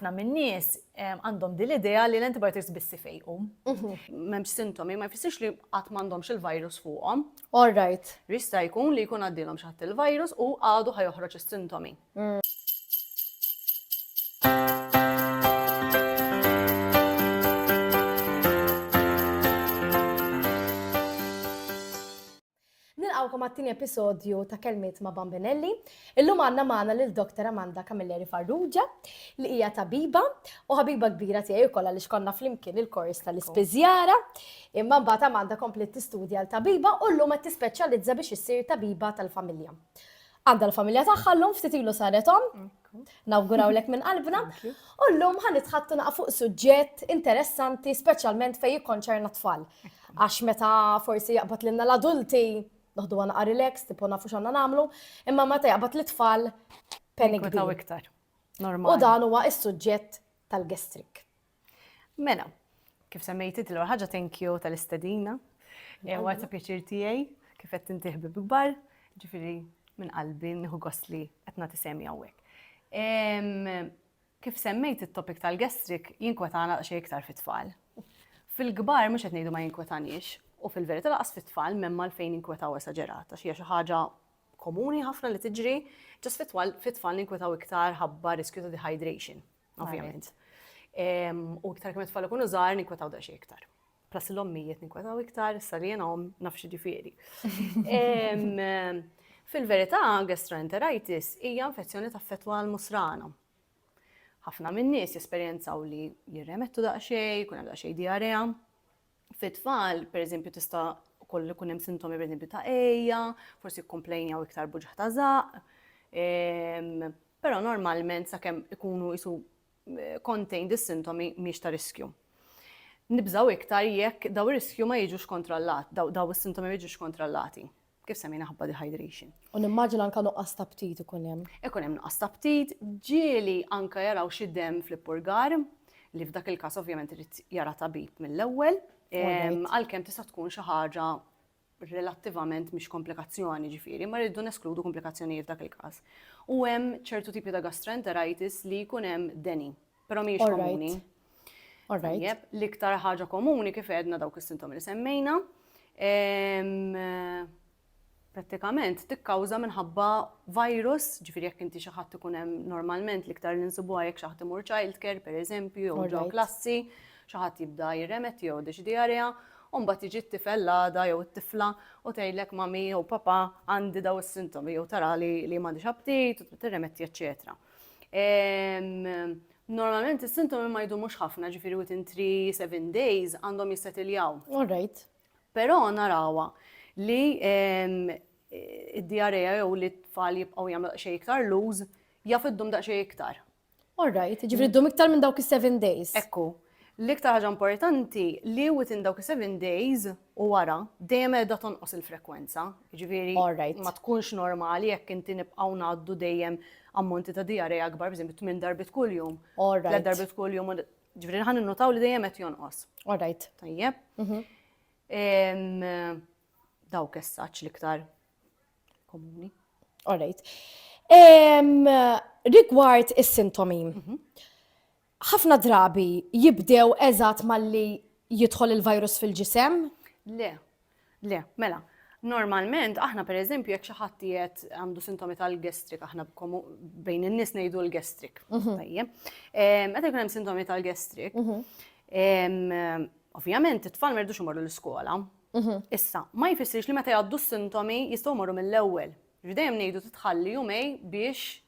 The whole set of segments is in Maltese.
ħafna min-nies għandhom din l-idea li l-antibiotics biss ifejqu. Mhm. M'hemmx sintomi, ma jfissirx li qatt m'għandhomx il-virus fuqhom. All right. Jista' jkun li jkun għaddilhom xatt il-virus u għadu ħajoħroġ is-sintomi. Mm. Nilqgħukom għat-tieni episodju ta' Kelmiet ma' Bambinelli. Illum għandna magħna lil Doctor Amanda Camilleri Farrugia li hija tabiba u ħabiba kbira tiegħi wkoll għaliex konna flimkien il-kors tal-ispiżjara. Imma mbagħad Amanda kompliet tistudja għal tabiba u llum qed tispeċjalizza biex issir tabiba tal-familja. Għandha l-familja tagħha llum ftit ilu saret omm. Nawgurawlek minn qalbna. U llum ħan nitħattu naqa' fuq suġġett interessanti speċjalment fejn jikkonċerna tfal. Għax meta forsi jaqbad lilna l-adulti noħdu għana relax, tipo nafu xanna namlu, imma meta jaqbad l-tfal penik. iktar. U dan huwa is-suġġett tal-gestrik. Mela, kif semmejt inti l ħaġa thank you tal-istedina. Ewa ta' pjaċir tiegħi kif qed inti ħbib kbar, ġifieri minn qalbi nieħu gost li qed nagħti semi hawnhekk. Kif semmejt it-topic tal-gastrik jinkwetana xejn iktar fit-tfal. Fil-kbar mhux qed ngħidu ma jinkwetanix u fil-verità laqas fit-tfal m'hemm għalfejn jinkwetaw esaġerat għax hija xi ħaġa komuni ħafna li tiġri, ġas fit-tfal jinkwetaw iktar ħabba riskju ta' dehydration. ovvjament. U iktar kemm it-tfal ikunu żgħar ninkwetaw da xi iktar. Plus l-ommijiet ninkwetaw iktar, issa li jiena om naf xi ġifieri. Fil-verità, gastroenteritis hija infezzjoni ta' fetwa għal musrana ħafna minn nies jesperjenzaw li jirremettu daqsxejn, kun hemm daqsxejn diarea. Fit-tfal, pereżempju, tista' ukoll ikun hemm sintomi pereżempju ta' ejja, forsi kkomplejnjaw iktar buġħ ta' żaq, Però normalment sakemm ikunu qisu contained is-sintomi mhix ta' riskju. Nibżgħu iktar jekk dawn ir-riskju ma jiġux kontrollat, dawn is-sintomi ma jiġux kontrollati. Kif semmejna ħabba dehydration. U nimmaġina anke nuqqas ta' ptit ikun hemm. Ikun hemm nuqqas ta' ptit, ġieli anke jaraw xi demm fl-ippurgar, li f'dak il-każ ovvjament irid jara tabib mill-ewwel, għalkemm tista' tkun xi ħaġa relattivament mhix komplikazzjoni, jiġifieri ma rridu neskludu komplikazzjonijiet f'dak il-każ. U hemm ċertu tipi ta' gastroenteritis li jkun hemm deni, però mhijiex komuni. Tajjeb, l-iktar ħaġa komuni kif għedna dawk is-sintomi li semmejna. Prattikament tikkawża minħabba virus, ġifieri jekk inti xi ħadd ikun hemm normalment l-iktar li nsibuha jekk xi ħadd imur childcare pereżempju jew ġo klassi, Xi ħadd jibda jirremetti jew jgħoddi xi diarrea, u mbagħad jiġi t-tifel l-għada jew it-tifla u tgħidlek mami jew papa għandi daw is-sintomi jew tara li li m'għandix aptit u tibda tirremetti eċċetera. Normalment is-sintomi ma jdumux ħafna, ġifieri within 3-7 days għandhom jissetiljaw. All right. Però narawha li id-diarrea jew li t-tfal jibqgħu jagħmlu daqsxejn iktar lose jaf iddum daqsxejn iktar. All right, ġifri mm. ddum iktar minn dawk is-7 days. Ekku. L-iktar ħaġa importanti li within dawk is-7 days u wara dejjem qiegħda tonqos il-frekwenza. Ġifieri ma tkunx normali jekk inti nibqgħu ngħaddu dejjem ammonti ta' dijareja akbar, biżem tmien darbit kuljum. All right. darbit kuljum. Ġifieri ħan innutaw li dejjem qed jonqos. All right. Tajjeb. Mhm. Dawk essaċ l-iktar komuni. All right. Um, rigward is-sintomi, mhm. ħafna drabi jibdew eżatt malli jidħol il-virus fil-ġisem? Le, le, mela. Normalment, aħna per eżempju, jekk xi ħadd qiegħed għandu sintomi tal-gestrik, aħna bejn in-nies ngħidu l-gestrik. Mhm. Tajjeb. Meta jkun hemm sintomi tal-gestrik, mhm. ovvjament it-tfal merdux imorru l-iskola, Issa, ma jfissirx li meta jgħaddu s-sintomi jistgħu jmorru mill-ewwel. Ġifieri dejjem ngħidu titħalli jumej biex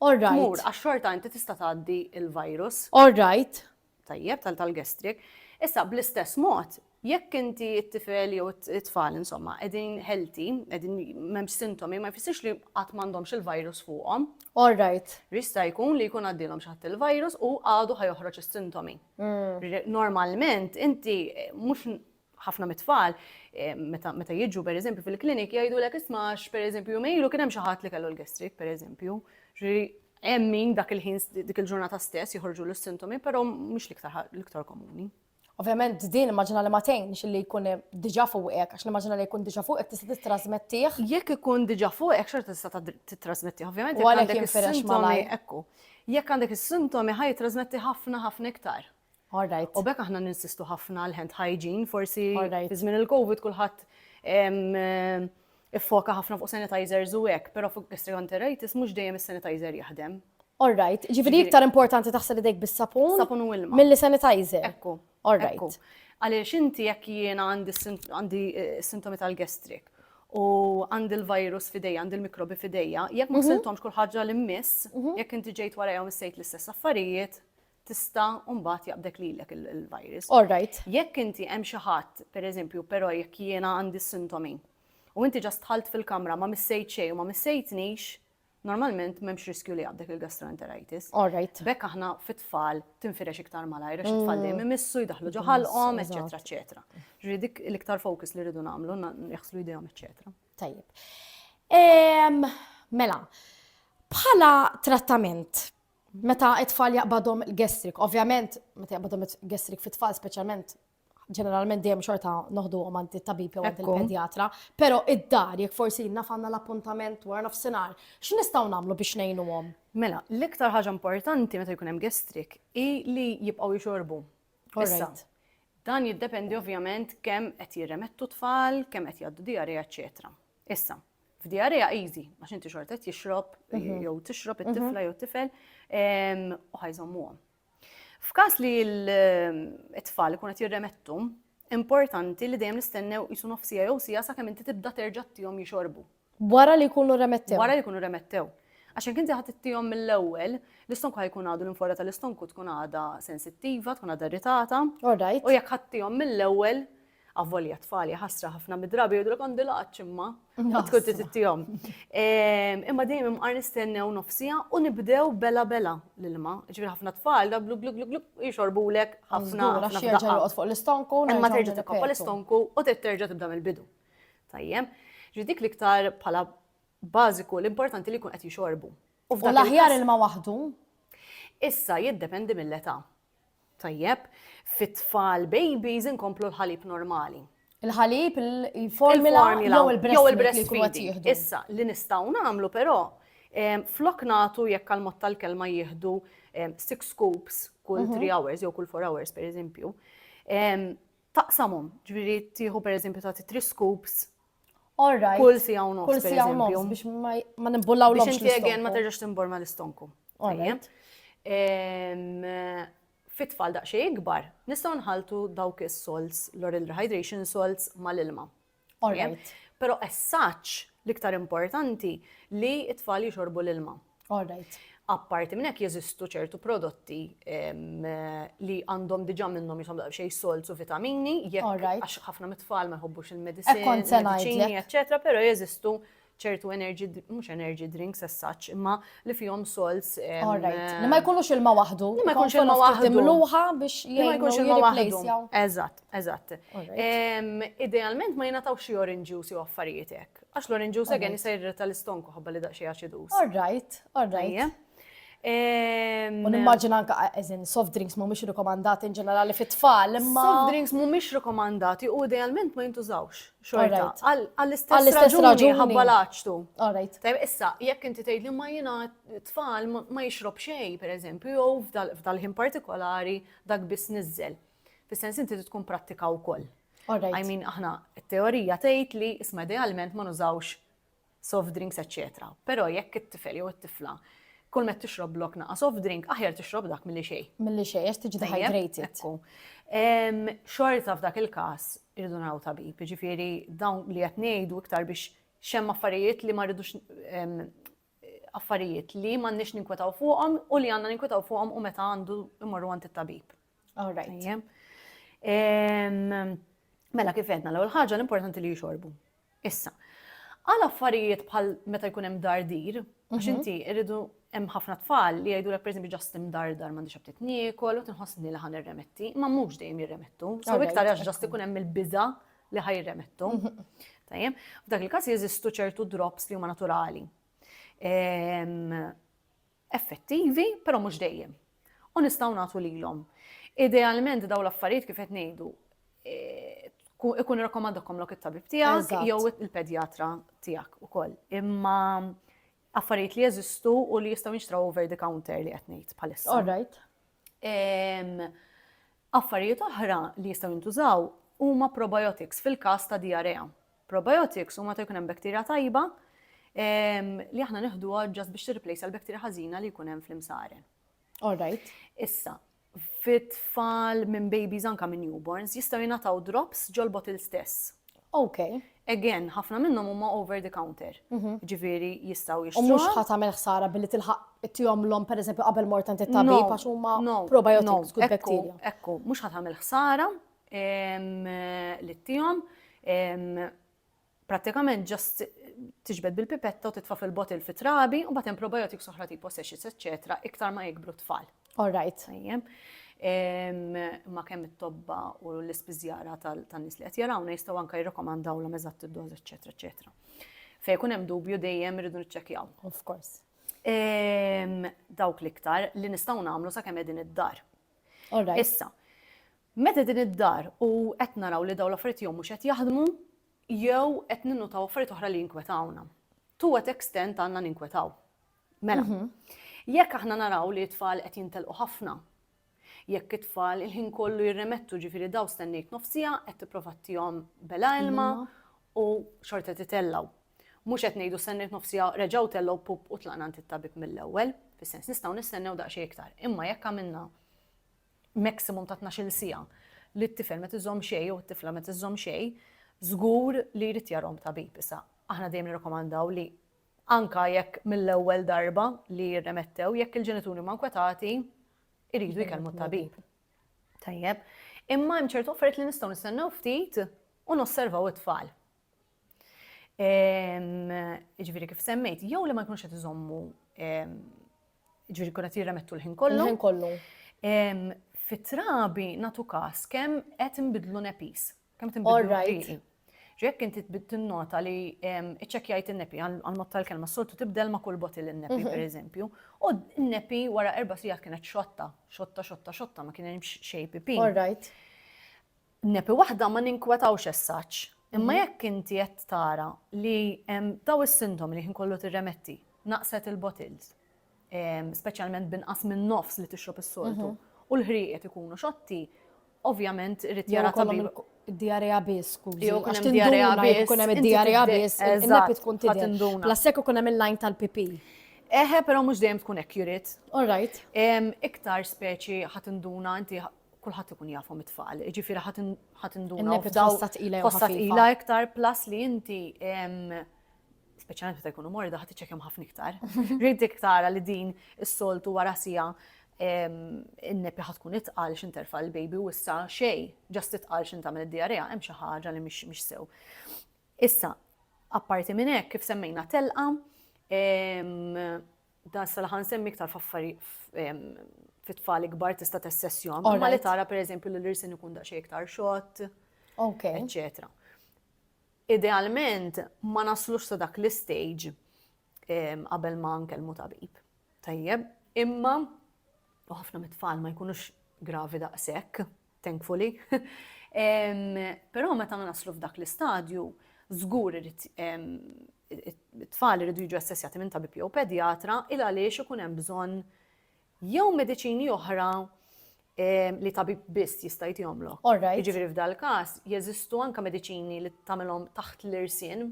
All right. tmur għax xorta inti tista' tgħaddi l-virus. All right. Tajjeb tal tal-gastric. Issa bl-istess mod, jekk inti t-tifel jew it- it-tfal insomma qegħdin healthy, qegħdin m'hemmx sintomi, ma jfissirx li qatt m'għandhomx il-virus fuqhom. All right. Jista' jkun li jkun għaddielhom xi ħadd il-virus u għadu ħa joħroġ is-sintomi. Normalment inti mhux Ħafna mit-tfal meta meta jiġu pereżempju fil-klinik jgħidulek isma' għax pereżempju jumejn ilu kien hemm xi ħadd li kellu l-gastric pereżempju. Ġifieri hemm min dak il-ħin dik il-ġurnata stess joħorġulu s-sintomi però mhux l-iktar l-iktar komuni. Ovvjament din immaġina li ma tgħinx li jkun diġà fuqek għax nimmaġina li jkun diġà fuqek tista' tittrasmettih. Jekk ikun diġà fuqek xorta tista' tittrasmettih ovvjament. U għalhekk jinfirex malajr. Ekku. Jekk għandek is-sintomi ħa jittrasmetti ħafna ħafna iktar. Alright. U b'hekk aħna ninsistu ħafna għal hand hygiene, forsi fi żmien il-COVID kulħadd iffoka ħafna fuq sanitizers u hekk, però fuq gastroenteritis mhux dejjem is-sanitizer jaħdem. Alright, ġifieri iktar importanti taħsel idejk bis-sapun? Sapun u ilma. Milli sanitizer? Ekku. Alright. Għaliex inti jekk jiena għandi eh, sintomi tal-gastrik u għandi l-virus fidejja, għandi l-mikrobi fidejja, jekk ma mhm. siltomx kull ħaġa li miss, mhm. jekk inti ġejt warajhom issejt l-istess affarijiet, tista' mbagħad jaqbdek lilek il-virus. All right. Jekk inti hemm xi ħadd, pereżempju, però jekk jiena għandi sintomi u inti ġast tħalt fil-kamra ma missejt xejn u ma missejtnix, normalment m'hemmx riskju li jaqbdek il-gastroenteritis. All right. Bekk aħna fit-tfal tinfirex iktar malajr għax it-tfal dejjem mm. imissu jdaħlu ġo ħalqhom, eċetera, eċetera. Ġri dik l-iktar fokus li rridu nagħmlu, jaħslu idejhom, eċetera. Tajjeb. Mela, bħala trattament Meta t-tfal jaqbadhom il-gastric, ovvjament meta jaqbadhom il-gastric fit-tfal speċjalment ġeneralment dejjem xorta noħdu għom għand il-tabib jew għand il-pedjatra, pero id-dar jek forsi naf għanna l-appuntament wara nofsinar, x'nistgħu nagħmlu biex ngħinu għom? Mela, l-iktar ħaġa importanti meta jkun hemm gestrik hi li jibqgħu jixorbu. Issa, dan jiddependi ovvjament kemm qed jirremettu tfal, kemm qed jgħaddu diarrija, eċetera. Issa, f'diarrea easy, għax inti xorta qed jixrob, mhm. jew tixrob mhm. it-tifla jew tifel, u ħajżommuhom. F'każ li l-tfal ikun qed jirremettu, importanti li dejjem nistennew jisu nofsija jew sija sakemm inti tibda terġa' tihom jixorbu. Wara li jkunu remettew. Wara li jkunu remettew. Għax jekk inti ħadd ittihom mill-ewwel, l-istonku ħajkun għadu l-infora tal-istonku tkun għada sensittiva, tkun għada irritata. U jekk ħadd tihom mill-ewwel, Avvolja tfal ħasra ħafna mid-drabi jgħidulek għandi laqgħat imma tkun tittihom. Imma dejjem imqar nistennew nofsija u nibdew bela bela l-ilma. Ġifieri ħafna tfal da blu blu blu blu jixorbulek ħafna. Għax jerġa' joqgħod fuq l-istonku. Imma terġa' tikkoppa l-istonku u terġa' tibda mill-bidu. Tajjem. Ġi dik l-iktar bħala bażiku l-importanti li jkun qed jixorbu. U l-aħjar ilma waħdu? Issa jiddependi mill-età. Tajjeb, fit-tfal babies inkomplu l-ħalib normali. Il-ħalib, il-formula, jew il-breast feeding. Issa, li nistgħu nagħmlu però, flok nagħtu jekk għal mod tal-kelma jieħdu six scoops kull 3 mhm. hours jew kull 4 hours per eżempju. Taqsamhom, ġifieri tieħu per eżempju tagħti 3 scoops Kull si għaw nofs. Kull si għaw nofs biex ma nimbullaw l-għomx. Biex inti ma terġax timborma l-istonku. Tajjeb. Fit-tfal daqsxejn ikbar, nistgħu nħaltu dawk is-salts, l-oral rehydration salts mal-ilma. Alright. Però as such, l-iktar importanti li t-tfal jixorbu l-ilma. Alright. Apparti minn hekk jeżistu ċertu prodotti li għandhom diġà minnhom jisom daqsxejn salts u vitamini, jekk għax ħafna mit-tfal ma jħobbux il-mediċini, eċċetera, però jeżistu ċertu energy, mux energy drinks as such, imma li fihom salts. Alright, li ma jkunux ilma waħdu. Li ma jkunux ilma waħdu. Mluħa biex ma jkunux ilma waħdu. Eżatt, eżatt. Idealment ma jenataw xie orange juice jew affarietek. Għax l-orange juice għen jisajr tal-istonku ħabba li daqxie acidus. Alright, alright. U nimmaġina anka eżin soft drinks mhumiex rikomandati in ġenerali fit-tfal, imma. Soft drinks mhumiex rikomandati u idealment ma jintużawx. Xorta. Għall-istess raġuni ħabba laċtu. Alright. Tajb, issa, jekk inti tgħid li ma jiena tfal ma jixrob xejn, pereżempju, jew f'dal-ħin partikolari dak biss niżel. Fis-sens inti tkun prattika wkoll. I mean, aħna, teorija tgħid li isma' idealment ma nużawx soft drinks eċċetera. Però jekk it-tifel jew it-tifla kull met tixrob blok naqa' soft drink, aħjar tixrob dak milli xejn. Milli xejn, għax tiġi dehydrated. Xorta f'dak il-każ irridu naraw tabib, jiġifieri dawn li qed ngħidu iktar biex xem affarijiet li ma rridux affarijiet li m'għandniex ninkwetaw fuqhom u li għandna ninkwetaw fuqhom u meta għandu imorru għand it-tabib. All right. Mela kif għedna l-ewwel ħaġa l-importanti li jixorbu. Issa, għal affarijiet bħal meta jkun hemm dardir, għax inti rridu hemm ħafna tfal li jgħidulek pereżempju ġast imdardar m'għandix aptit niekol u tinħossni li ħan irremetti, ma mhux dejjem jirremettu. So iktar għax ġast ikun hemm il-biża li ħaj jirremettu. Tajjem, f'dak il-każ jeżistu ċertu drops li huma naturali. Ehm, effettivi, però mhux dejjem, u nistgħu nagħtu lilhom. Idealment dawn l-affarijiet kif qed ngħidu ikun rakkomandakom lok it-tabib tiegħek jew il-pedjatra tiegħek ukoll. Imma affarijiet li jeżistu u li jistgħu jinxtraw over the counter li qed ngħid bħalissa. All right. Affarijiet oħra li jistgħu jintużaw huma probiotics fil-każ ta' diarrea. Probiotics huma ta' jkun hemm bacteria tajba li aħna neħduha ġast biex tirriplejsa l-bacteria ħażina li jkun hemm fl-imsaren. All right. Issa, fit-tfal minn babies anka minn newborns jistgħu jingħataw drops ġolbot il stess. Ok. Again, ħafna minnhom huma over the counter. Mhm. Ġifieri jistgħu jixtru. U mhux ħa tagħmel ħsara billi tilħaq tihomlhom pereżempju qabel mort tant it-tabib għax huma probiotics kull bacteria. Ekku, mhux ħa tagħmel ħsara li tihom prattikament ġast tiġbed bil-pipetta u titfa fil-botil fit trabi u batem probiotics oħra tipo sexits, eccetera, iktar ma jikbru tfal. All right. Ma kemm it-tobba u l-ispiżjara tan-nies li qed jarawna jistgħu anke jirrakomandaw l eżatt id-doż, eċetera, eċetera. Fej kun hemm dubju dejjem irridu niċċekkjaw. Of course. Dawk l-iktar li nistgħu nagħmlu sakemm qegħdin id-dar. All right. Issa, Meta din id-dar u qed naraw li dawn l-affarijiet jew mhux qed jaħdmu jew qed ninnutaw affarijiet oħra li jinkwetawna. To what extent għandna ninkwetaw? Mela, jekk aħna naraw li t-tfal qed jintelqu ħafna, jekk it-tfal il-ħin kollu jirremettu ġifieri daw stennejt nofs siegħa qed tipprova tihom bela ilma u xorta qed itellgħu. Mhux qed ngħidu stennejt nofs siegħa reġgħu tellgħu pup u tlaqna għand it-tabib mill-ewwel, fis-sens nistgħu nistennew daqsxejn iktar. Imma jekk għamilna maximum ta' tnax-il siegħa li t-tifel ma tiżomm xejn jew it-tifla ma tiżomm xejn, żgur li jrid jarahom tabib. Issa, aħna dejjem nirrakkomandaw li anke jekk mill-ewwel darba li jirremettew, jekk il-ġenituri huma nkwetati, iridu jkellmu t-tabib. Tajjeb. Imma hemm ċertu affarijiet li nistgħu nistennew ftit u nosservaw it-tfal. Ġviri kif semmejt, jew li ma jkunux qed iżommu ġviri kun qed jirremettu l-ħin kollu. L-ħin kollu. Fit-trabi natu kas kemm qed inbidlu nepis. Kemm qed inbidlu riqi. Ġek inti tinnota li iċċekjajt in-nepi għal-mod tal-kelma soltu tibdel ma' kull botil in-nepi mhm. pereżempju. U n-nepi wara erba' sigħat kienet xotta, xotta, xotta, xotta ma kien hemm xejn pipi. All right. Nepi waħda ma ninkwetawx as-such, imma jekk inti qed tara li hemm dawn is-sintomi li ħin kollu tirremetti, naqset il-bottles, speċjalment b'inqas minn nofs li tixrob is-soltu, u l-ħrieqed ikunu xotti, ovvjament irid jara tabib. Id-diarrea biss, skużi. Jew ikun hemm diarrea biss. Ikun hemm id-diarrea biss. Eżatt, tkun tidher. La sekk ikun hemm il-lajn tal-pipi. Eħe, però mhux dejjem tkun accurate. All right. Iktar speċi ħadd induna inti kulħadd ikun jafhom it-tfal, jiġifieri ħadd induna posta tqila posta tqila iktar plus li inti speċjalment meta jkunu morda ħadd iċċekkjom ħafna iktar. Rrid iktar li din is-soltu wara sija in-nepi ħad tkun itqal x'interfa' l-baby u issa xej, ġast itqal x'in tagħmel id-diarrea hemm xi ħaġa li mhix sew. Issa, apparti minn hekk kif semmejna telqa, Dan issa li ħansemmi iktar f'affari fit-tfal ikbar tista' tessessjom. Ma li tara pereżempju li l-irsin ikun daqsxejn iktar xott. Ok. Eċċetera. Idealment ma naslux sa dak l-istage qabel ma nkellmu tabib. Tajjeb, imma u ħafna mit-tfal ma jkunux gravi daqshekk. thankfully. Però meta naslu f'dak l-istadju, żgur irid it-tfal iridu jiġu assessjati minn tabib jew pedjatra il għaliex ikun hemm bżonn jew mediċini oħra li tabib biss jista' jtihomlok. Jiġifieri f'dal-każ jeżistu anke mediċini li tagħmilhom taħt l-irsien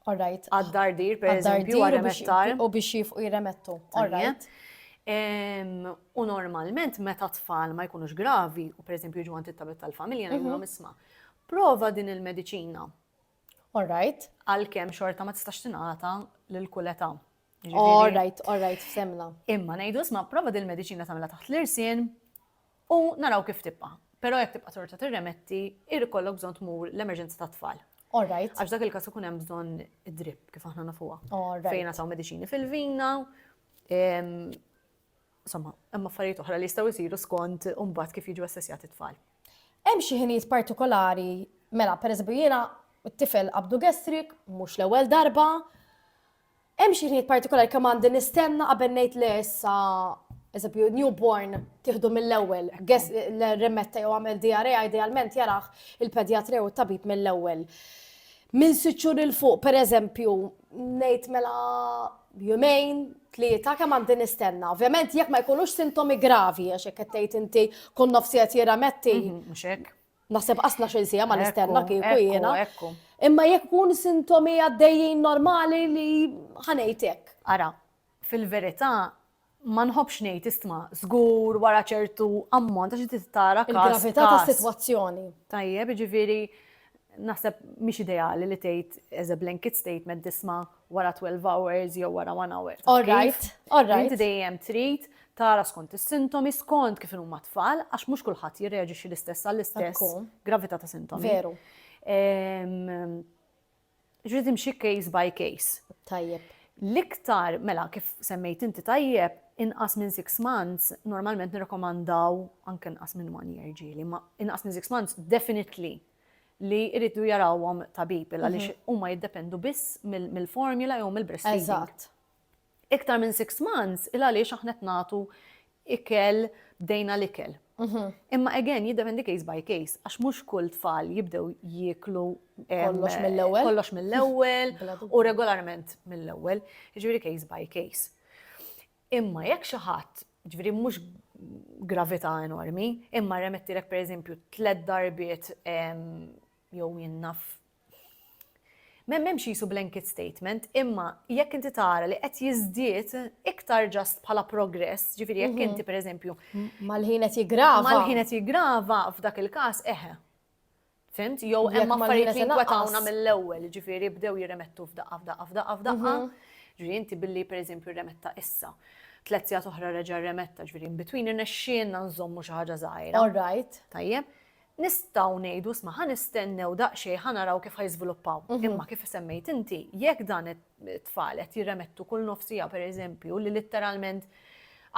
All right. Għad-dardir, per eżempju, għal-remettar. U biex jifqu jiremettu. All right. U normalment, meta tfal ma jkunux gravi, u per eżempju ġu għant it-tabib tal-familja, mhm. ngħidilhom isma' prova din il-mediċina. All right. Għal-kem xorta ma tistax tingħata lil kull età. All right, all right, semna. Imma ngħidu isma' prova din il-mediċina tagħmilha taħt l-irsien, U naraw kif tibqa'. Però jekk tibqa' torta tirremetti, jrid ikollok bżonn tmur l-emerġenza tat-tfal. All right. Għax dak il-każ ikun hemm bżonn id-drip kif aħna nafuha. All right. Fejn nataw mediċini fil-vina. Insomma, hemm affarijiet oħra li jistgħu jsiru skont imbagħad kif jiġu assessjati t-tfal. Hemm xi ħinijiet partikolari, mela pereżempju jiena t-tifel qabdu gastric, mhux l-ewwel darba, Hemm xi ħnijiet partikolari kemm għandi nistenna qabel ngħid le issa eżempju newborn tieħdu mill-ewwel, guess l-remetta jew għamel DRA idealment jaraħ il-pedjatri u t-tabib mill-ewwel. Minn sitt xhur il fuq pereżempju ngħid mela jumejn, tlieta kemm għandi nistenna. Ovvjament jekk ma jkunux sintomi gravi għax hekk qed tgħid inti kun nofsi qed jirrametti. Mhux hekk. Naħseb qas il sija ma nistenna kieku jiena. Imma jekk kun sintomi għaddejjin normali li ħanejtek. Ara, fil-verità ma nħobx ngħid istma żgur wara ċertu ammont għax inti tara Il-gravità tas-sitwazzjoni. Tajjeb, ġifieri naħseb mhix ideali li tgħid as a blanket statement disma' wara 12 hours jew wara 1 hour. All right, all right. Inti dejjem trid tara skont is-sintomi, skont kif huma tfal, għax mhux kulħadd jirreaġixxi l-istess għall-istess gravità ta' sintomi. Veru. Ġrid imxi case by case. Tajjeb. L-iktar, mela, kif semmejt inti tajjeb, inqas minn 6 months, normalment nirrekomandaw anke inqas minn 1 year ġili, ma inqas minn 6 months, definitely li jridu jarawhom tabib il għaliex mhm. huma jiddependu biss mill-formula jew mill-breastfeeding. Eżatt. Iktar minn six months il għaliex aħna qed nagħtu ikel bdejna l-ikel. Mhm. Imma again jiddependi case by case għax mhux kull tfal jibdew jieklu kollox mill-ewwel. Kollox mill-ewwel u regolarment mill-ewwel, jiġifieri case by case. Imma jekk xi ħadd, jiġifieri mhux gravità enormi, imma rremettielek pereżempju tliet darbiet jew jien naf M'hemmx qisu blanket statement, imma jekk inti tara li qed jiżdied iktar ġast bħala progress, ġifieri jekk inti mhm. pereżempju. Mal-ħin qed jiggrava. Mal-ħin qed jiggrava f'dak il-każ eħe. Fimt? Jew Jekk hemm ma affarijiet l-ħina li se naqqas. jinkwetawna mill-ewwel, jiġifieri bdew jirremettu f'daqqa f'daqqa f'daqqa f'daqqa. Ġifieri inti billi pereżempju remetta issa, tliet sigħat oħra reġa' remetta, ġifieri in between irnexxielna nżommu xi ħaġa żgħira. All right. Tajjeb? Nistgħu ngħidu isma' ħa nistennew daqsxejn ħa naraw kif ħa jiżviluppaw. Imma kif semmejt inti, jekk dan it- tfal qed jirremettu kull nofsija per eżempju li litteralment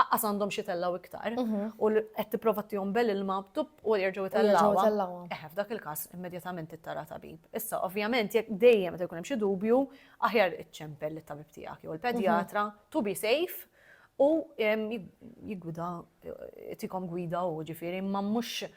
aqqas għandhom xi tellaw iktar mhm. u qed tipprova tihom bel ilma tub u jerġgħu tellawha. Eħe f'dak il-każ immedjatament ittara tabib. Issa ovvjament jekk dejjem meta jkun hemm xi dubju aħjar iċċempel lit-tabib tiegħek jew il-pedjatra mhm. to be safe u jigwida tikom gwida u ġifieri ma mhux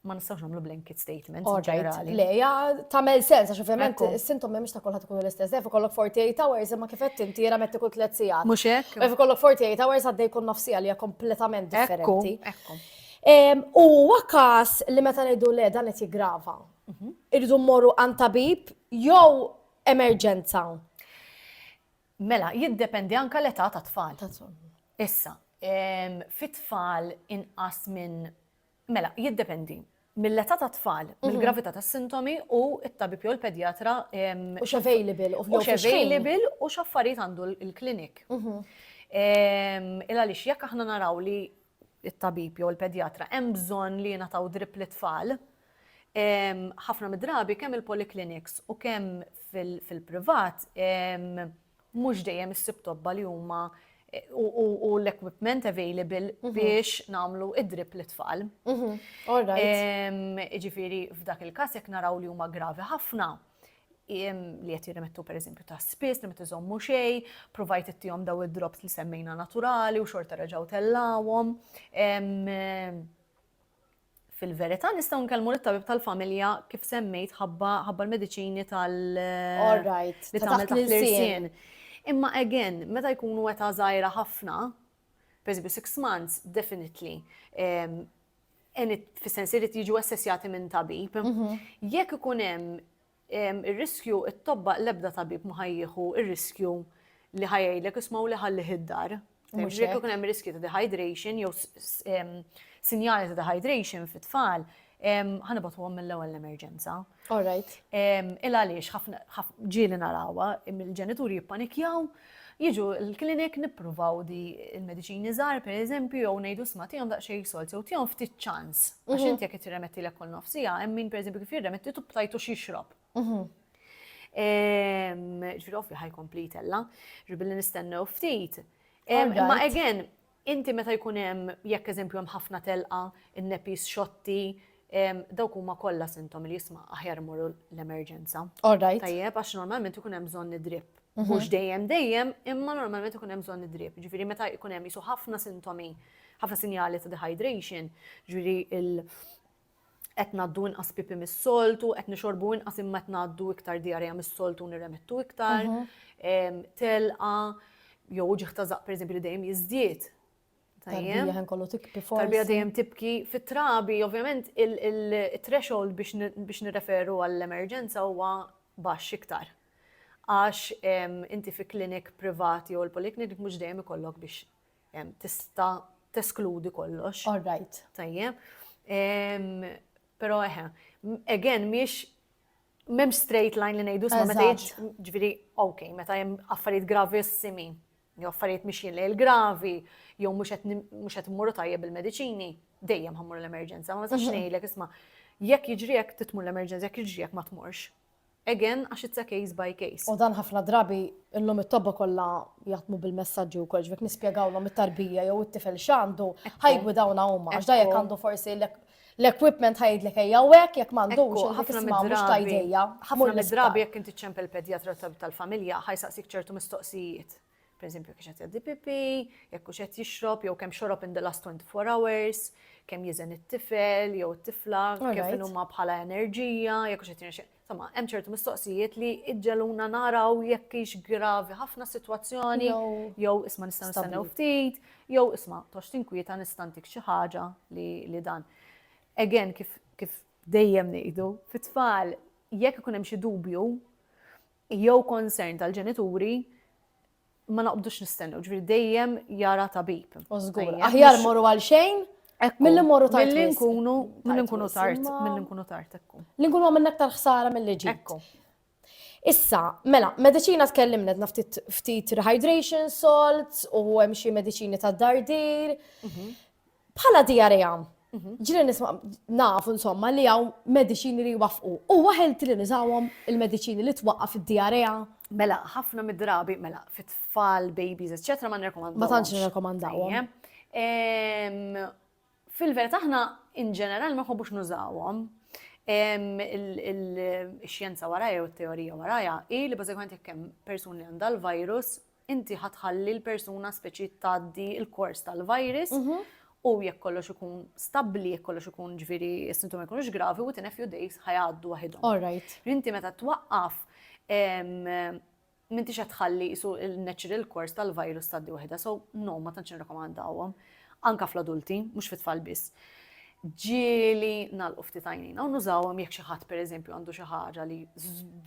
ma nistgħux nagħmlu blanket statement ġenerali. Le, ja tagħmel sens għax ovvjament is-sintom mhux ta' kulħadd ikunu l-istess. Def ikollok 48 hours imma kif qed inti jiena metti kull tliet sigħat. Mhux hekk. Def ikollok 48 hours għaddej kull nofsija li hija kompletament differenti. U huwa każ li meta ngħidu le dan qed jiggrava. Mhm. Irridu mmorru għand tabib jew emerġenza. Mela, jiddependi anka l-età ta' tfal. Issa, fit-tfal inqas minn Mela, jiddependi. Mill-età tat-tfal, mill-gravità tas-sintomi u t-tabib jew il-pedjatra. U x'available u f'jokx. U x'available u x'affarijiet għandu l-klinik. Il għaliex jekk aħna naraw li t-tabib jew il-pedjatra hemm bżonn li jingħataw drip lit-tfal, ħafna mid-drabi kemm il-polikliniks u kemm fil-privat mhux dejjem issib tobba li huma u l-equipment available mhm. biex namlu id-drip li tfal. Mhm. Ġifiri, f'dak il-kas jek naraw li huma gravi ħafna, li jett jirrimettu per eżempju ta' spis, li met iżommu xej, provajt ittijom daw id-drops li semmejna naturali u xorta reġaw tellawom. Fil-verità nistgħu nkellmu lit-tabib tal-familja kif semmejt ħabba ħabba l-mediċini tal All right. li Ta' tagħmel taħt taħt l-irsien. l-irsien. Imma again, meta jkunu età żgħira ħafna, pereżempju six months, definitely, em, en it- fis-sens irid jiġu assessjati minn tabib. Jekk ikun hemm Ir-riskju t-tobba l-ebda tabib ma ħa jieħu r-riskju li ħa jgħidlek isma' u li ħallih id-dar. Mhux jekk ikun hemm riskju ta' dehydration jew sinjali ta' dehydration fit-tfal, ħanibatuhom mill-ewwel l-emerġenza. All right. Il għaliex ħafna ġieli narawha, il-ġenituri jippanikjaw, jiġu l-klinik nippruvaw di l-mediċini żgħar pereżempju jew ngħidu sma' tihom daqsxejn solt jew tihom ftit ċans. Għax mhm. inti jekk qed tirremettilek kull nofsija, hemm min pereżempju kif jirremetti tub tajtu x'jixrob. Mhm. Ġifieri ovvja ħajkompli tella, ġibilli nistennew ftit. Imma again, Inti meta jkun hemm, jekk eżempju hemm ħafna telqa, in-nepis xotti, dawk huma kollha sintomi li jisma' aħjar immorru l-emerġenza. All right. Tajjeb, għax normalment ikun hemm bżonn id-drip. Mhux dejjem dejjem, imma normalment ikun hemm bżonn id-drip. Ġifieri meta jkun hemm qisu ħafna sintomi, ħafna sinjali ta' dehydration, ġifieri qed ngħaddu inqas pipi mis-soltu, qed nixorbu inqas imma qed ngħaddu iktar diarrea mis-soltu nirremettu iktar, mhm. telqa, jew uġiħ ta' zaq pereżempju li dejjem jiżdied. Tarbija ħen kollu tibki forsi. Tarbija dejjem tibki fit-trabi, ovvjament il-threshold biex nirreferu għall-emerġenza huwa baxx iktar. Għax inti fi klinik privati jew l-poliklinik mhux dejjem ikollok biex tista' teskludi kollox. All right. Tajjeb. Però eħe, again, miex mem straight line li nejdu sma meta ġviri, ok, meta jem affarijiet gravissimi, jew affarijiet miex jille il-gravi, jew mux qed mmorru tajjeb il-medicini, dejjem ħammur l-emerġenza, ma meta mhm. xnejlek isma, jekk jiġri jekk titmur l-emerġenza, jekk jiġri jekk ma tmurx. Again, għax it's a case by case. U dan ħafna drabi illum it-tobba kollha jaħdmu bil-messaġġi wkoll, ġifiek nispjegawlhom it-tarbija jew it-tifel x'għandu, ħajgwidawna huma għax da jekk għandu forsi l-equipment ħajdlek ejja hekk jekk m'għandux ħafna mhux tajdejja. Ħafna drabi jekk inti ċempel pedjatra tal-familja ħajsaqsik ċertu mistoqsijiet. per eżempju kiex qed jgħaddi pipi, jekk hux qed jixrob jew kemm xorob in the last 24 hours, kemm jiżen it-tifel jew it-tifla, kif huma bħala enerġija, jekk hux qed jirnexxi. Insomma, hemm ċertu mistoqsijiet li iġġeluna naraw jekk hix gravi ħafna sitwazzjoni jew isma' nistgħu nistennew ftit, jew isma' tox tinkwieta nistantik xi ħaġa li dan. Again, kif dejjem ngħidu, fit-tfal jekk ikun hemm xi dubju, jew concern tal-ġenituri ma noqbdux nistennew, ġifieri dejjem jara tabib. U żgur, aħjar morru għal xejn Milli morru tard. Milli nkunu, milli nkunu tard, milli nkunu tard ekku. Li nkunu għamilna aktar ħsara milli ġi. Ekku. Issa, mela, medicina tkellimna dna ftit rehydration salts u hemm xi mediċini ta' dardir. Mhm. Bħala diarrea, ġili nisma' nafu insomma li hawn mediċini li jwaffqu. U waħelti li nużawhom il-mediċini li twaqqaf id-diarrea? Mela, ħafna mid-drabi, mela, fit-tfal, babies, eccetera, ma nirrekomandawhom. Ma tantx nirrekomandawhom. Fil-verità aħna in ġeneral ma nħobbux nużawhom. Il-xjenza warajja u t-teorija warajja hi li bażikament jekk hemm persuni għandha l-virus inti ħa tħalli l-persuna speċi tgħaddi l-kors tal-virus u jekk kollox ikun stabbli, jekk kollox ikun ġviri s-sintomi jkunux gravi, within a few days ħajgħaddu waħidhom. All right. Inti meta twaqqaf, minti xa tħalli jisu il-natural course tal-virus taddi waħda, so no, ma tantx nirrakomandawhom. anke fl-adulti, mhux fit-tfal biss, ġieli nagħlqu ftit għajnejna u nużawhom jekk xi ħadd pereżempju għandu xi ħaġa li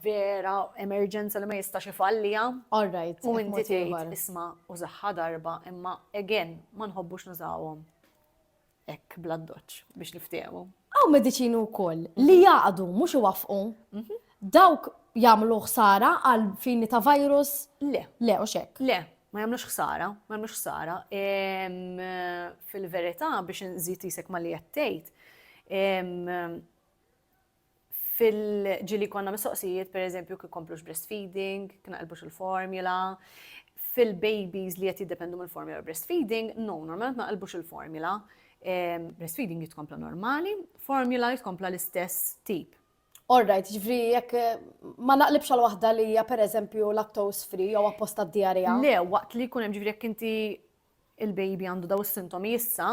vera emerġenza li ma jistax ifalliha. All right. U inti tgħid isma' użaħħa darba imma again ma nħobbux nużawhom hekk bl-addoċċ biex niftehmu. Hawn mediċini wkoll li jaqdu mhux iwaffqu. Mhm. Dawk jagħmlu ħsara għal fini ta' virus? Le. Le, u xek. Le, Ma jagħmlux ħsara, ma jagħmlux ħsara. Fil-verità biex inżid isek ma li qed tgħid, fil-ġili konna mistoqsijiet, per eżempju, kif komplux breastfeeding, kien qalbux il-formula, fil-babies li qed jiddependu mill-formula breastfeeding, no, normalment ma qalbux il-formula. Breastfeeding jitkompla normali, formula jitkompla l-istess tip. All right, ġifri, jekk ma naqlibx għal waħda li hija pereżempju lactose free jew apposta d-diarrija. Le, waqt li jkun hemm ġifri jekk inti il-baby għandu daw is-sintomi issa,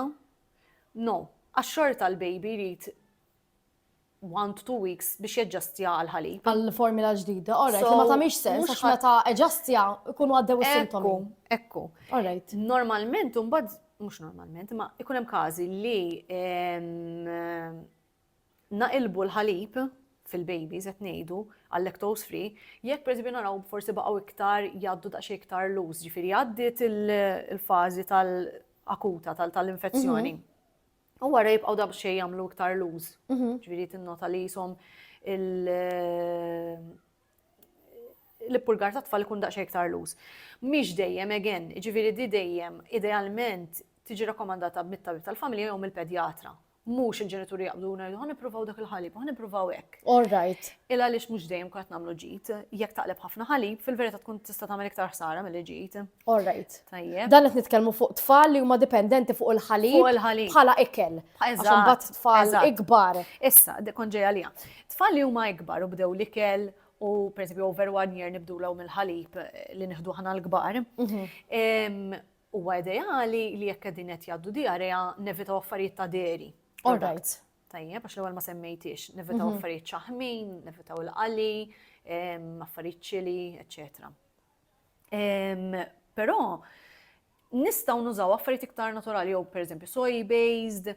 no, għax xorta l-baby jrid one to two weeks biex jaġġastja għal ħalib. Għal formula ġdida, all right, li ma tagħmilx sens għax meta eġastja jkunu għaddew is-sintomi. Ekku, all right. Normalment imbagħad mhux normalment, ma jkun hemm każi li ehm, naqilbu l-ħalib, fil-babies qed ngħidu, għal lactose free, jekk pereżempju naraw forsi baqgħu iktar jgħaddu daqsxejn iktar loose, ġifieri għaddiet il-fażi tal-akuta tal-infezzjoni. U wara jibqgħu daqsxejn jagħmlu iktar loose. Ġifieri tinnota li jisom l-ippurgar ta' tfal ikun daqsxejn iktar loose. Mhix dejjem again, ġifieri di dejjem idealment tiġi rakkomandata mit-tabib tal-familja jew mill-pedjatra. mhux il-ġenituri jaqbdu ngħidu ħan nippruvaw dak il-ħalib, ħan nippruvaw hekk. All right. Il għaliex mhux dejjem kont nagħmlu ġid, jekk taqleb ħafna ħalib, fil-verità tkun tista' tagħmel iktar ħsara milli ġid. All right. Tajjeb. Dan qed nitkellmu fuq tfal li huma dipendenti fuq il-ħalib. Fuq il-ħalib. Bħala ikel. Għaxum bat tfal ikbar. Issa, kon ġejja li Tfal li huma ikbar u bdew l-ikel u per over one year nibdu law mill-ħalib eh, li nħdu ħana l-kbar. Mhm. Huwa ideali li jekk qegħdin qed jgħaddu diarrea nevitaw affarijiet ta' dairy. All right. Tajjeb, għax l-ewwel ma semmejtix, nevitaw mhm. affarijiet ċaħmin, nevitaw il-qali, affarijiet ċili, eċċetera. Però nistgħu nużaw affarijiet iktar naturali jew pereżempju soy based.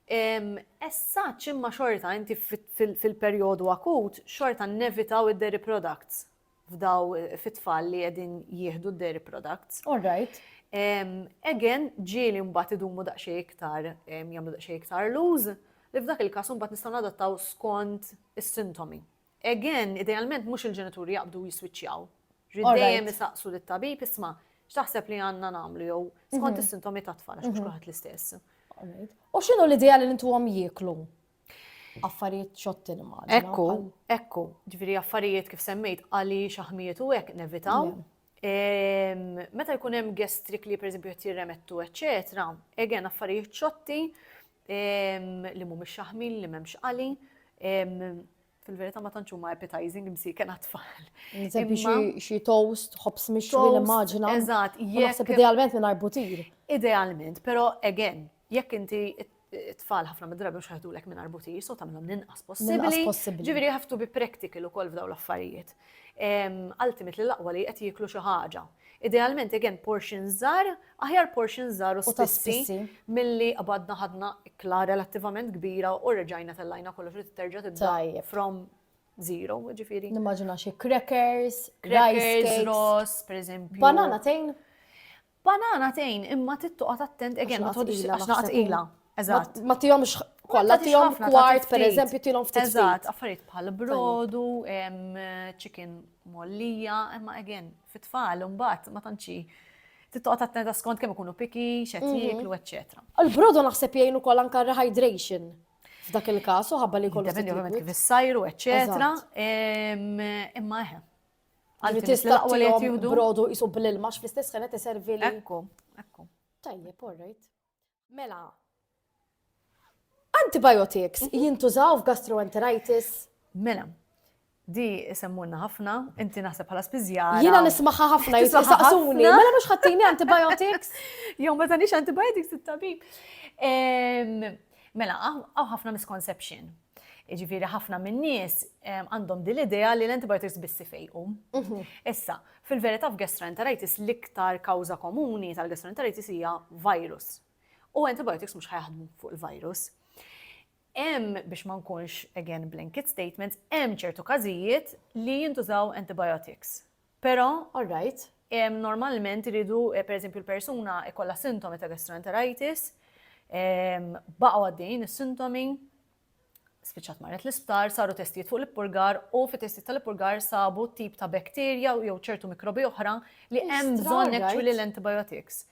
Essa ċimma xorta inti fil-perjodu akut xorta nevitaw id-dairy products. f'daw fit-tfal li qegħdin jieħdu d-dairy products. All right. Again, ġieli mbagħad idumu daqsxejn iktar jagħmlu daqsxejn iktar luz, li f'dak il-każ mbagħad nistgħu nadattaw skont is-sintomi. Again, idealment mhux il-ġenituri jaqbdu jiswiċċjaw. Ridejjem isaqsu lit-tabib isma' x'taħseb li għandna nagħmlu jew skont mhm. is-sintomi tat-tfal għax mhux mhm. kulħadd l-istess. U x'inhu l-idea li intuhom jieklu? affarijiet xotti li ma. Ekku, ekku, ġviri affarijiet kif semmejt għali xaħmijiet u hekk nevitaw. Meta jkun hemm gestrik li pereżempju qed jirremettu, eċetera, egen affarijiet xotti li mhumiex xaħmin li m'hemmx għali, fil-verità ma tantx huma appetizing msiken għat-tfal. Eżempju xi toast, ħobs mixwi l-immaġina. Eżatt, jekk. Idealment minn arbutir. Idealment, però again, jekk inti tfal ħafna mid-drabi mhux ħajdulek minn arbutir, so tagħmilhom ninqas possibbli. Ġifieri ħaftu bi practical ukoll f'dawn l-affarijiet. Ultimately l-aqwa li qed jieklu xi ħaġa. Idealment again portions żgħar, aħjar portions żgħar u spissi milli qbadna ħadna ikla relattivament kbira u reġajna tellajna kollox u terġa' tibda from zero, ġifieri. Nimmaġina xi crackers, crackers, ross, pereżempju. Banana tejn? Banana tejn, imma tittoqgħod attent again ma tħodx għax naqgħod Eżatt. Ma tihomx kollha tihom kwart pereżempju tilhom ftit. Eżatt, affarijiet bħal brodu, chicken mollija, imma again fit-tfal imbagħad ma tantxi tittoqgħod attenta skont kemm ikunu piki, x'qed mhm. jieklu, eċċetera. Il-brodu naħseb jgħinu kol anke rehydration f'dak il-każ u ħabba li kollu. Dependi ovvjament kif issajru, eċċetera. Imma eħe. Għalli tista' brodu jisub l-ilma fl-istess ħanet iservi. Ekku, ekku. Tajjeb, all right. Mela, antibiotics mhm. jintużaw f'gastroenteritis? Mela, di semmunna ħafna, inti naħseb bħala spiżjara. Jiena nismaħħa ħafna jisaqsuni, mela mhux ħattini antibiotics? Jew meta nix antibiotics it-tabib. Mela, għaw ħafna misconception. Iġifieri ħafna min-nies għandhom din l-idea li l-antibiotics biss ifejqu. Mhm. Issa, Fil-verità f'gastroenteritis l-iktar kawża komuni tal-gastroenteritis hija virus. U antibiotics mhux ħa jaħdmu fuq il-virus. Hemm biex ma nkunx again blanket statement, hemm ċertu każijiet li jintużaw antibiotics. Però, all right, normalment iridu pereżempju l-persuna jkollha sintomi ta' gastroenteritis, baqgħu għaddejjin is-sintomi, spiċċat marret l-isptar, saru testijiet fuq l-ippurgar u fit testijiet tal-ippurgar sabu tip ta' bakterja jew ċertu mikrobi oħra li hemm bżonn actually l-antibiotics.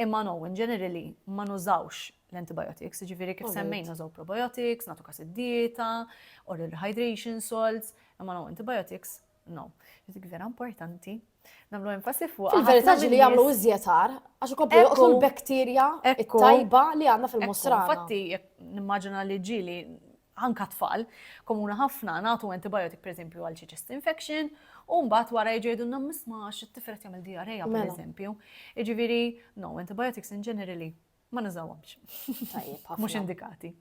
Imma no, in generally, ma nużawx l-antibiotics, ġifiri kif semmejn nużaw probiotics, natu kas id-dieta, oral hydration salts, imma no antibiotics No, dik vera importanti. Namlu enfasi fuq. Il-verità li jagħmlu iżjetar, għax ikomplu joqtlu l-bakterja tajba li għandna fil-mostra. Fatti, nimmaġina li ġili anka tfal, komuna ħafna nagħtu antibiotic pereżempju għal chest infection, u mbagħad wara jġejdu nam misma xi tifret jagħmel diarreja mela. pereżempju. Jiġifieri, no, antibiotics in generally Ma nużawhomx. Tajjeb ħafna. Mhux indikati.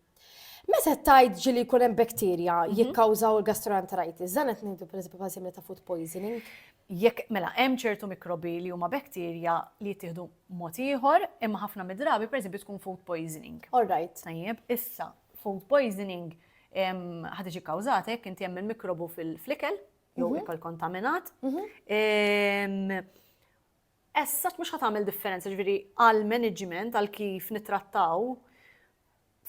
Meta tajt ġili jkun hemm bakterja mhm. jikkawżaw il-gastroenteritis, dan qed ngħidu pereżempju bħal simili ta' food poisoning? Jekk mela hemm ċertu mikrobi li huma bakterja li jittieħdu mod ieħor, imma ħafna mid-drabi pereżempju tkun food poisoning. All right. Tajjeb, issa food poisoning ħad iġi kawżat hekk inti hemm il-mikrobu fil-flikel jew mhm. ikol kontaminat. Mhm. as such mhux ħa tagħmel differenza, ġifieri għall-management, għal kif nittrattaw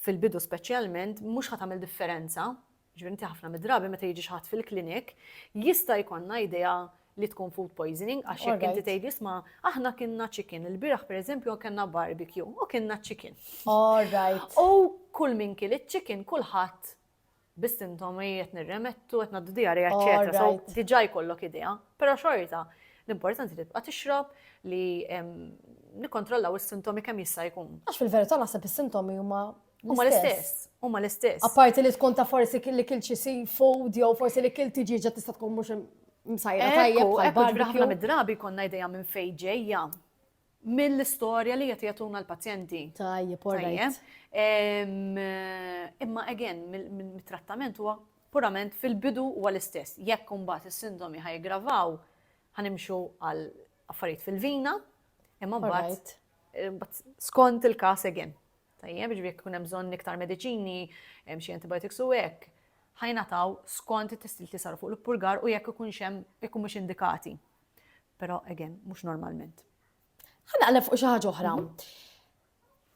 fil-bidu speċjalment, mhux ħa tagħmel differenza. Ġifieri inti ħafna mid-drabi meta jiġi ħadd fil-klinik, jista' jkollna idea li tkun food poisoning, għax jekk inti tgħid jisma, aħna kienna chicken, il-biraħ pereżempju kellna barbecue u kienna chicken. All right. U kull min kien iċ-chicken kulħadd bis-sintomi qed nirremettu, qed naddu diarja, eċetera. So diġà jkollok idea, però xorta l-importanti tibqa' tixrob li nikkontrollaw is-sintomi kemm jista' jkun. Għax fil-verità naħseb is-sintomi huma Huma l-istess, huma l-istess. Apparti li tkun ta' forsi li kil xi seafood jew forsi li kil tiġiġa tista' tkun mhux msajra tajjeb. Ħafna mid-drabi konna idea minn fejn ġejja. mill-istorja li qed jagħtuna l-pazjenti. Tajjeb, all right. Imma again, mit-trattament huwa purament fil-bidu huwa l-istess. Jekk imbagħad is-sintomi ħa jiggravaw, ħa nimxu għal affarijiet fil-vina, imma mbagħad skont il-każ again. Tajjeb, ġifieri jekk ikun hemm bżonn iktar mediċini, hemm xi antibiotics u hekk, ħajnataw skont it-testijiet li saru fuq l-ippurgar u jekk ikun xem ikun mhux indikati. Però again, mhux normalment. Ħa naqleb fuq xi ħaġa oħra.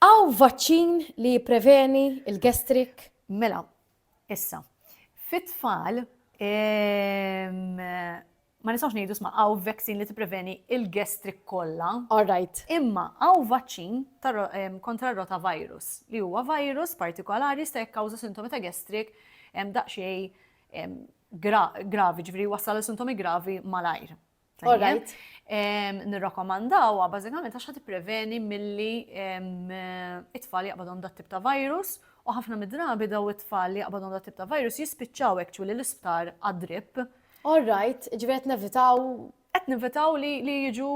Aw mhm. vaċċin li jippreveni il-gestrik? Mela, issa. Fit-tfal, ehm, ma nistax ngħidu sma għaw vaccine li tippreveni il-gestrik kollha. All right. Imma għaw vaċċin kontra rota virus li huwa virus partikolari sta jekkawża sintomi ta' gestrik daqsxejn gravi, ġviri wassal għal sintomi gravi malajr. Alright. Nirrakomandawa bażikament għax ħad preveni milli it-tfal jaqbadhom dat tip ta' virus u ħafna mid-drabi daw it-tfal li jaqbadhom dat tip ta' virus jispiċċaw actually l-isptar għad-drip. Alright, ġivet nevitaw qed nivitaw li li jiġu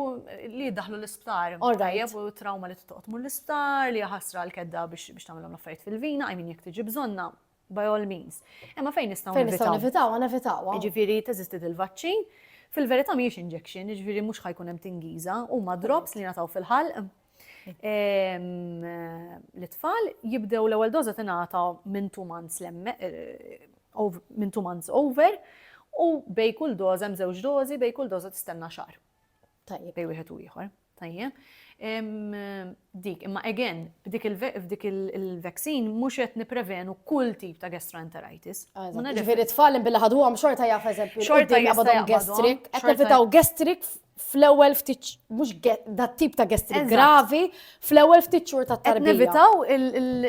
li daħlu l-isptar. Alright. U trauma li t-toqt l-isptar, li ħasra l-kedda biex tagħmilhom l-affarijiet fil-vina, I mean jekk tiġi bżonna, by all means. Imma fejn nistgħu Fejn nistgħu nevitaw, nevitaw. Jiġifieri teżisti il-vaċċin, fil-verità mhijiex injection, jiġifieri mhux ħajkun hemm tingiża, huma drops li nataw fil-ħalq. L-itfal jibdew l-ewwel doża tingħata minn two months eh, minn two months over u bej kull doża hemm żewġ dożi bej kull doża tistenna xahar. Tajjeb. Bej wieħed u ieħor. Tajjeb. Dik, imma again, f'dik il-vaccine mhux qed niprevenu kull tip ta' gastroenteritis. Ġifieri tfal billi ħadhom xorta jaf eżempju. Xorta jabadhom gastric. Qed nevitaw gastric fl-ewwel ftit mhux dat tip ta' gastric gravi fl-ewwel ftit xhur ta' tarbija. Nevitaw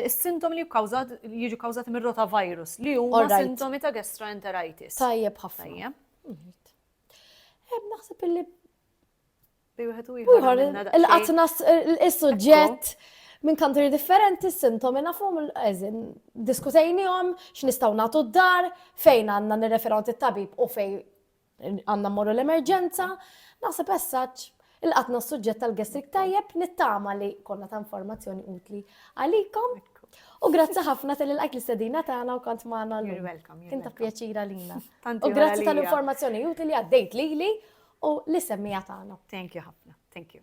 is-sintom li jiġu kawżati mir-rotavirus li huma sintomi ta' gastroenteritis. Tajjeb ħafna. Naħseb illi. Il-qatnas, il-sujġett minn country differenti, s-sintomi nafum, eżin, diskutejnijom, x'nistgħu nagħtu d-dar, fejn għandna nirrefergħu tit-tabib u fejn għandna mmorru l-emerġenza, naħseb essaċ Il-qatna u s-suġġett tal-gastric tajjeb nittama li konna ta' informazzjoni utli għalikom. U grazzi ħafna tal lajk li sedina tagħna u kont magħna l Kien ta' pjaċira lina. U grazzi tal-informazzjoni utli li għaddejt lili u li semmija tagħna. Thank you ħafna. Thank you.